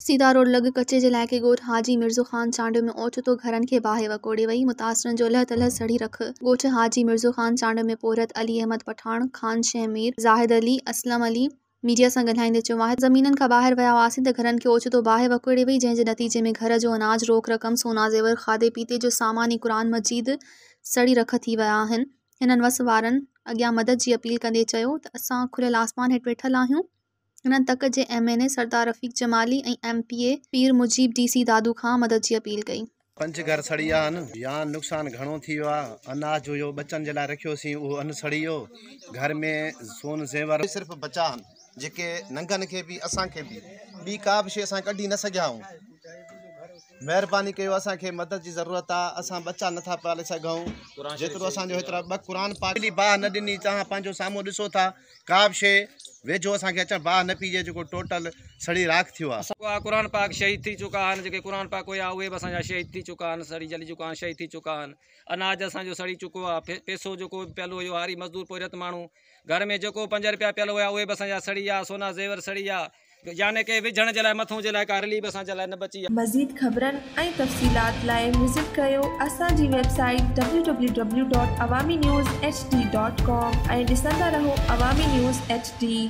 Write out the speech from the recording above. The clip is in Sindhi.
سيدا روڊ لڳ ڪچي جي علائقي ڳوٺ حاجي مرزو خان چانڊيو ۾ اوچتو گهرن کي باهه وڪوڙي وئي، متاثرن جو الهه تلهه سڙي رک. ڳوٺ حاجي مرزو خان چانڊيو ۾ پورهيت علي احمد پٺاڻ، خان شينهن مير، زاهد علي، اسلم علي، ميڊيا سان ڳالهائيندي چيو، واحد زمينن کان ٻاهر ويا هئاسين ته گهرن کي اوچتو باهه وڪوڙي وئي جنهن جي نتيجي ۾ گهر جو اناج، روڪ رقم، سونا زيور، کاڌي پيتي جو سامان ۽ قرآن مجيد سڙي رک ٿي ويا آهن. هنن وس وارن اڳيان مدد جي اپيل ڪندي چيو ته اسان کليل آسمان هيٺ ويٺل آهيون. هنن تڪ جي M N A Sardar Rafiq Jamali ۽ M P A Pir Mujeeb D C Dadu کان مدد جي اپيل ڪئي. پنج گهر سڙي ويا آهن يا نقصان گهڻو ٿي ويو آهي، اناج جو جو ٻچن جي لاء رکيو هوسين اهو ان سڙي ويو، گهر ۾ سون زيور. صرف بچا آهن جيڪي ننگن کي به اسان کي به ٻي ڪا به شيء اسان ڪڍي نه سگهيا آهيون، مهرباني ڪيو اسان کي مدد جي ضرورت آهي اسان ٻچا نه ٿا پالي سگهون جيترو اسان جو هيترا ٻه قرآن پاڪ. بلي باهه نه ڏني توهان پنهنجو سامهون ڏسو ٿا. ڪا به شيء ويجهو اسان کي اچڻ باهه نه پيجي جيڪو ٽوٽل سڙي راک ٿيو آهي. اها قرآن پاڪ شهيد ٿي چڪا آهن جيڪي قرآن پاڪ هيا اهي به اسان جا شهيد ٿي چڪا آهن سڙي جلي چڪا آهن شهيد ٿي چڪا آهن اناج اسان جو سڙي چڪو آهي پيسو جيڪو به پيل هيو هاري مزدور پورهيت ماڻهو گهر ۾ جيڪو پنج رپيا پيل هيا اهي به اسان جا سڙي ويا سونا زيور سڙي ويا يعني ڪي وجهڻ جي لاء مٿون جي لاء ڪا رليب اسان جي لاء نه بچي آ. مزيد خبرن ۽ تفصيلات لاء وزٽ ڪريو اسان جي website W W W dot Awami news H D dot com ۽ ڏسندا رهو عوامي نيوز ايڇ ڊي.